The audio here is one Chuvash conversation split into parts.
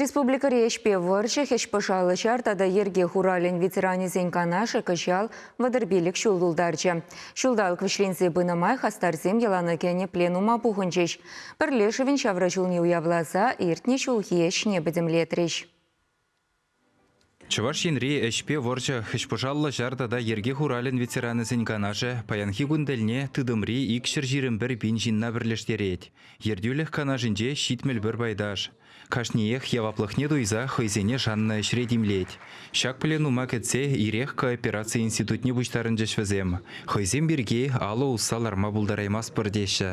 Республикӑри ӗҫпе вӑрҫӑ, хӗҫ-пӑшал, ҫар тата йӗрке хуралӗн ветеранӗсен канашӗ кӑҫал вӑтӑрпилӗк ҫул тултарчӗ. Ҫулталӑк вӗҫленсе пынӑ май хастарсем йӑлана кӗнӗ пленума пухӑнчӗҫ. Пӗрлешӗвӗн ҫавра ҫулне уявласа иртнӗ ҫулхи ӗҫне пӗтӗмлетрӗҫ. Чӑваш Енри Ӗҫпе вӑрҫӑ, хӗҫпӑшаллӑ ҫар тата йӗрке хуралӗн ветеранӗсен канашӗ паянхи кун тӗлне тытӑмри икҫӗр ҫирӗмпӗр пин ҫынна пӗрлештерет. Ертӳлӗх канашӗнче ҫитмӗл пӗр пайташ. Кашниех яваплӑхне туйса хӑйсене шаннӑ ӗҫре тимлет. Ҫак пленума кӗтсе ирех коопераци институтне пуҫтарӑнчӗҫ вӗсем. Хӑйсем пирки алӑ усса ларма пултараймастпӑр теҫҫӗ.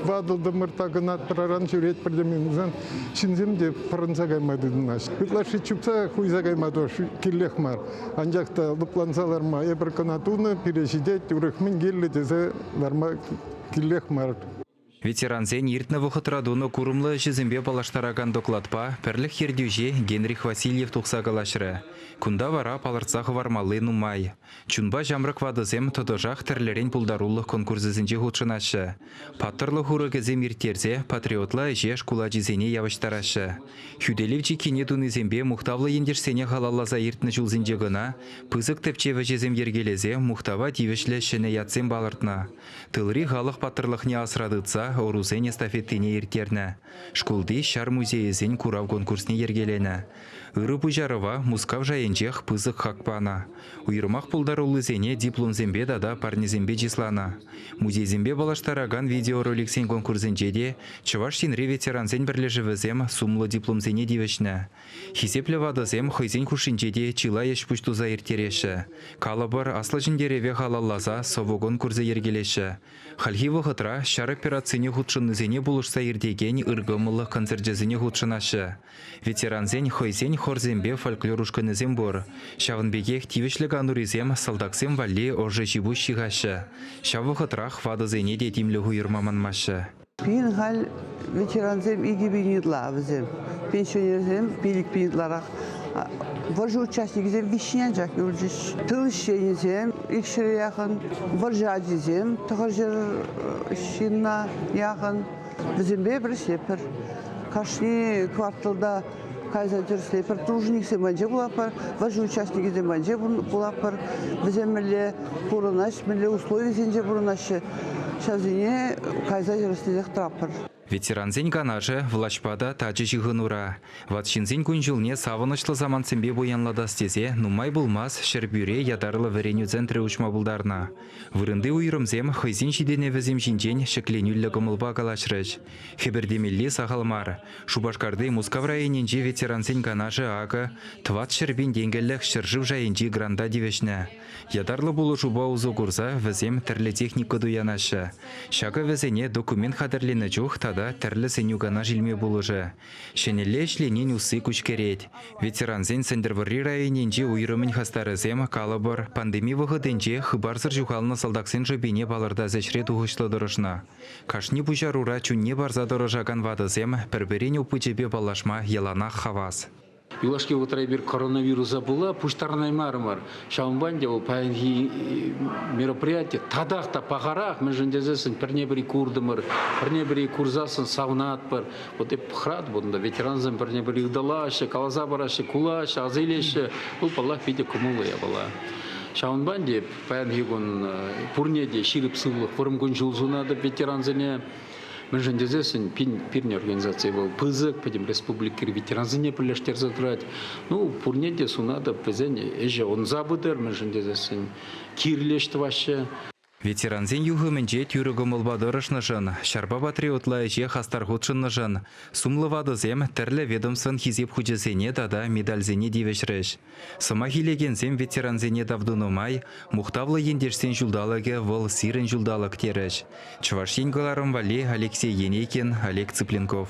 Ватӑ-тӑмӑр такӑнат-пӑраран ҫӳрет пӗртен ҫынсем те пӑрӑнса кайма тытӑнаҫҫӗ. Ытлашши чупса хуйса кайма тоже кирлех мар. Анчах та лӑпланса ларма эпир кӑна тунӑ, пире ҫитет, урӑх мӗн кирлӗ тесе ларма кирлех мар. Ветерансен иртнӗ вӑхӑтра тунӑ курӑмлӑ ӗҫӗсемпе паллаштаракан докладпа пӗрлӗх ертӳҫи Генрих Васильев тухса калаҫрӗ. Кунта вара палӑртса хӑвармалли нумай. Чунпа ҫамрӑк ватӑсем тӑтӑшах тӗрлӗрен пултарулӑх конкурсӗсенче хутшӑнаҫҫӗ. Паттӑрлӑх урӑхӗсем ирттерсе патриотла ӗҫе шкул ачисене явӑҫтараҫҫӗ. Хӳтӗлев чиккине тунисемпе мухтавлӑ ентешсене халалласа иртнӗ ҫулсенче кӑна пысӑк тӗпчев ӗҫӗсем йӗркелесе мухтава тивӗҫлӗ ҫӗнӗ ятсем палӑртнӑ. Тылри халӑх паттӑрлӑхне асра тытса ӑрусен эстафетине ирттернӗ, шкулти ҫар музейӗсен курав конкурсне йӗркеленӗ, Ырӑ пуҫарӑва Мускав шайӗнчех пысӑк хак панӑ. Уйрӑмах пултаруллисене дипломсемпе тата парнесемпе чысланӑ. Музейсемпе паллаштаракан видеороликсен конкурсӗнче те Чӑваш Енри ветерансен пӗрлешӗвӗсем сумлӑ дипломсене тивӗҫнӗ. Хисеплӗ ватӑсем хӑйсен хушшинче те чылай ӗҫ-пуҫ туса ирттереҫҫӗ. Калӑпӑр, Аслӑ Ҫӗнтерӗве халалласа сӑвӑ конкурсӗ йӗркелеҫҫӗ. Хальхи вӑхӑтра ҫар операцине хутшӑннисене пулӑшса иртекен ыркӑмӑллӑх концерчӗсене хутшӑнаҫҫӗ. Ветерансен хӑйсен хорсемпе фольклор ушкӑнӗсем пур. Ҫавӑн пекех тивӗҫлӗ канурисем салтаксем валли ӑшӑ ҫипуҫ ҫыхаҫҫӗ. Ҫав вӑхӑтрах ватӑсене те тимлӗх уйӑрма манмаҫҫӗ. Пирӗн халь ветерансем икӗ пин ытла вӗсем, пенсионерсем пилӗк пин ытларах. Вӑрҫӑ участникӗсем виҫҫӗн анчах юлчӗҫ. Тыл ӗҫченӗсем, икҫӗре яхӑн, вӑрҫӑ ачисем, тӑхӑрҫӗр ҫынна яхӑн. Вӗсемпе пӗрлешетпӗр. Кашни кварталта кайса тӗрӗслетпӗр. Тружниксем патне пулатпӑр, вӑрҫӑ участникӗсем патне пулатпӑр. Вӗсем мӗнле пурӑнаҫҫӗ, мӗнле условисенче пурӑнаҫҫӗ, ҫавсене кайса тӗрӗслесех тӑратпӑр. Ветерансен канашӗ влаҫпа та тачӑ ҫыхӑнура. Ват ҫынсен кун-ҫулне савӑнӑҫлӑ самантсемпе пуянлатас тесе нумай пулмасть Ҫӗрпӳре ятарлӑ вӗренӳ центрӗ уҫма пултарнӑ. Вырӑнти уйрӑмсем хӑйсен ҫитӗнӗвӗсем ҫинчен ҫӗкленӳллӗ кӑмӑлпа калаҫрӗҫ. Хӗпӗртемелли сахал мар. Шупашкарти Мускав районӗнчи ветерансен канашӗ акӑ тӑват ҫӗрпин тенкӗлӗх ҫӗршыв шайӗнчи гранта тивӗҫнӗ. Ятарлӑ пулӑшупа усӑ курса вӗсем тӗрлӗ техника туянаҫҫӗ. Ҫакӑ вӗсене документ хатӗрленӗ чух тата тӗрлӗ сӗнӳ-канаш илме пулӑшӗ, Ҫӗнӗлле ӗҫленин усси куҫкӗрет. Ветерансен Сӗнтӗрвӑрри районӗнчи уйрӑмӗн хастарӗсем, калӑпӑр, пандеми вӑхӑтӗнче хыпарсӑр ҫухалнӑ салтаксен шӑпине палӑртас ӗҫре тухӑҫлӑ тӑрӑшнӑ. Кашни пуҫарура чунне парса тӑрӑшакан ватӑсем пӗр-пӗрин опычӗпе паллашма яланах хавас. Юлашки вӑхӑтра эпир коронавируса пула пуҫтарӑнаймарӑмӑр. Ҫавӑнпа ӗнтӗ вӑл паянхи мероприятие татах та пахарах, мӗншӗн тесессӗн пӗрне-пӗри куртӑмӑр, пӗрне-пӗри курсассӑн савӑнатпӑр. Вот эп хӑратӑп унта, ветерансем пӗрне-пӗри ыталаҫҫӗ, каласа параҫҫӗ, кулаҫҫӗ, аса илеҫҫӗ. Вӑл, паллах, питӗ кӑмӑллӑ япала. Ҫавӑнпа ӗнтӗ паянхи кун пурне те ҫирӗп сывлӑх, вӑрӑм кун-ҫул сунатӑп ветерансене. Мӗншӗн тесессӗн пин, пирӗн организаци вӑл пысӑк, пӗтӗм республикӑри ветерансене пӗрлештерсе тӑрать. Ну, пурне те сунатӑп, вӗсен ӗҫӗ ӑнса пытӑр, мӗншӗн тесессӗн кирлӗ ӗҫ тӑваҫҫӗ. Ветерансен юхӑмӗнче тӳрӗ кӑмӑлпа тӑрӑшнӑшӑн, ҫарпа патриотла ӗҫе хастар хутшӑннӑшӑн сумлӑ ватӑсем тӗрлӗ ведомствӑн Хисеп хучӗсене тата медальсене тивӗҫрӗҫ. Сӑмах илекенсем ветерансене тав тунӑ май Мухтавлӑ ентешсен ҫулталӑкӗ вӑл сирӗн ҫулталӑк терӗҫ Чӑваш Ен кӑларӑм валли Алексей Енейкин, Олег Цыпленков.